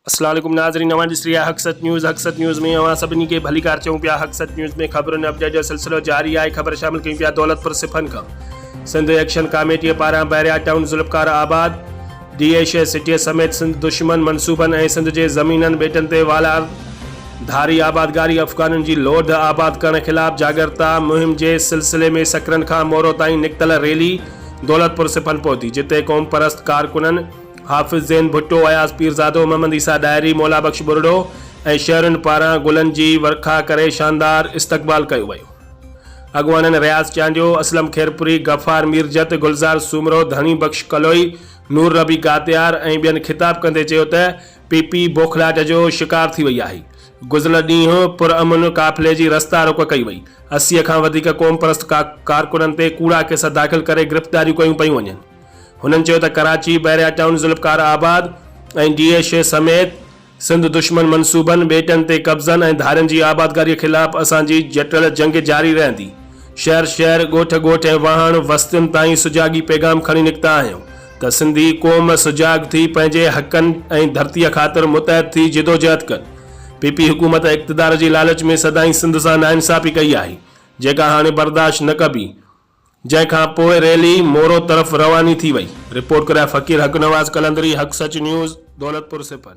اسلام عليڪم ناظرين اوهان ڏسي رهيا حق سچ نيوز حق سچ نيوز ۾ اوهان سڀني کي ڀليڪار چيون پيا حق سچ نيوز ۾ خبرن ۽ اپڊيٽ جو سلسلو جاري آهي خبر شامل ڪيون پيا دولتپور سپن کان سنڌ ايڪشن ڪاميٽي پاران Bahria Town Zulfiqarabad D A شهر سٽيء سميت سنڌ دشمن منصوبن ۽ سنڌ جي زمينن ٻيٽن تي والار ڌاري آبادگاري افغانن جي لوڌ آباد ڪرڻ خلاف جاڳرتا مهم جي سلسلي ۾ سڪرنڊ کان مورو تائين نڪتل ريلي دولتپور سپن پهتي جتي قومپرست ڪارڪنن حافظ زين ڀٽو اياز پيرزادو محمد عيسيٰ ڏاهري مولا بخش ٻرڙو ۽ شهرين پاران گلن جي ورکا ڪري شاندار استقبال ڪيو ويو. اڳواڻن رياض چانڊيو، اسلم خيرپوري، غفار ميرجت، گلزار سومرو، ڌڻي بخش ڪلوئي، نور نبي گاتيار ۽ ٻين خطاب ڪندي چيو ته پي پي بوکلاٽ جو شڪار ٿي وئي آهي، گذريل ڏينهن پرامن قافلي جي رستا روڪ ڪئي وئي، اسي کان وڌيڪ قومپرست ڪارڪنن تي ڪوڙا ڪيس داخل ڪري گرفتاريون ڪيون پيون وڃن. هنن چيو ته Karachi, Bahria Town, Zulfiqarabad ۽ D H A سميت سنڌ دشمن منصوبن، ٻيٽن تي قبضن ۽ ڌارين جي آبادگاريء خلاف اسان جي جٽل جنگ جاري رهندي. شهر شهر، ڳوٺ ڳوٺ ۽ واهڻ وستين تائين سجاڳي پيغام کڻي نڪتا آهيون ته سنڌي قوم سجاڳ ٿي پنهنجي حقن ۽ ڌرتيء خاطر متحد ٿي جدوجهد ڪن. پي پي حڪومت اقتدار جي لالچ ۾ سدائين سنڌ سان ناانصافي ڪئي آهي، جيڪا هاڻي برداشت نه ڪبي. جنهن کان پوء ريلي مورو طرف رواني ٿي وئي. رپورٽ ڪرائي فقير حق نواز قلندري حق سچ نيوز، دولتپور سپن.